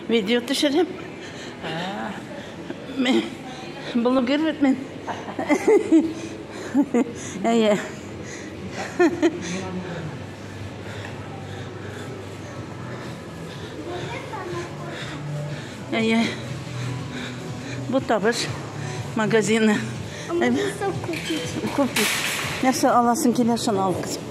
Видео төшереп. Мен блогер бит мен. Әйе. Әйе. Бу табыш магазины. Купить. Нәрсә аласың килә, шуны ал кызым.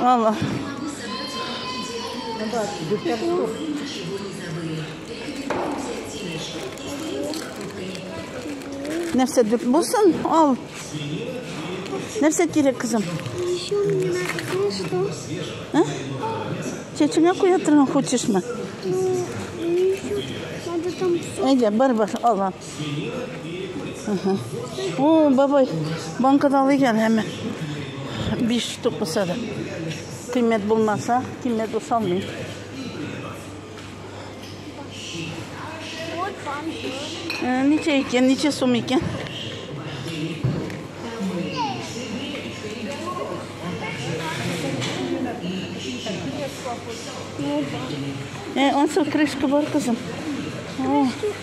Алла. Нәрсә дип булсын? Ал. Нәрсә кирәк, кызым? Еще мне надо что? А? Чеченя куя торган хочешме? Ну, еще надо там... Әйдә, бар, бар, алла. О, бабай, банка да алыйк әле һәм. Биш штук булса да. Кыйммәт булмаса, кыйммәт булса алмыйм. Э, ничә икән, ничә сум икән? Э, онсыз крышка бар кызым.